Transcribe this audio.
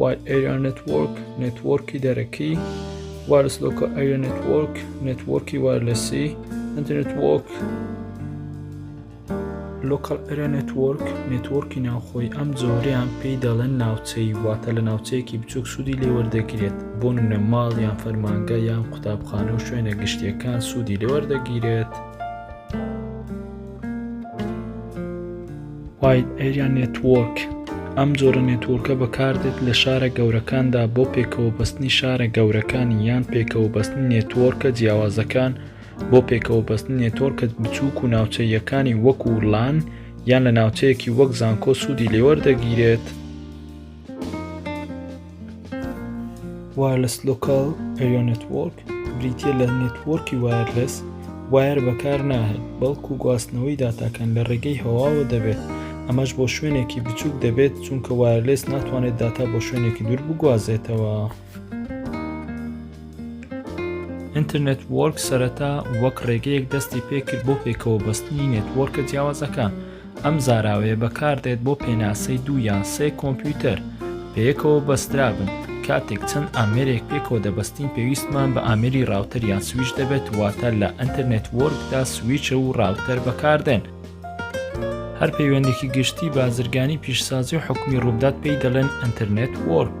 Wide Area Network نێتوۆرکی دەرەکی Wireless Local Area Network نێتوۆرکی وایرلسی Internet-Work Local Area Network نێتوۆرکی ناوخۆی ئەم جۆریان پێی دەڵێن ناوچەی واتە لە ناوچەیەکی بچوک سوودی لێوەردەگرێت بۆ نمونە ماڵ یان فەرمانگە یان قوتابخانە و شوێنە گشتیەکان سوودی لێوەردەگیرێت. وایت ئەریا نێتوۆرک ئەم جۆرە نێتوۆرکە بەکاردێت لە شارە گەورەکاندا بۆ پێکەوە بەستنی شارە گەورەکانی یان پێکەوە بەستن نێتوۆرکە جیاوازەکان بۆ پێکەوە بەستن نێتۆرکە بچووک و ناوچەیەکانی وەکو لان یان لە ناوچەیەکی وەک زانکۆ سوودی لێوەردەگیرێت وایەرلەس لۆکال ئەریا نێتوۆرک بریتە لە نێتوۆرکی وایەرلەس وایر بەکار ناهێت بەڵکو گواستنەوەی داتاکان لە ڕێگەی هەواوە دەبێت ئەمەش بۆ شوێنێکی بچووک دەبێت چونکە وایرلێس ناتوانێت داتا بۆ شوێنێکی دوور بگوازێتەوە. ئینترنێت وۆرک سەرەتا وەک ڕێگەیەک دەستی پێکرد بۆ پێکەوە بەستنی نێتوۆرکە جیاوازەکان ئەم زاراوەیە بەکاردێت بۆ پێناسەی دوو یان سێ کۆمپیوتەر پێکەوە بەسترابن کاتێک چەند ئامێرێک پێکەوە دەبستین پێویستمان بە ئامری ڕاوتەر یان سویش دەبێت واتە لە ئەتەرنێت وۆرکدا سویچە و ڕاوتەر بەکاردێن هەر پەیوەندێکی گشتی بازرگانی پیشسازی و حکومی ڕوودات پێی دەڵێن ئەتەرنێت وۆرک.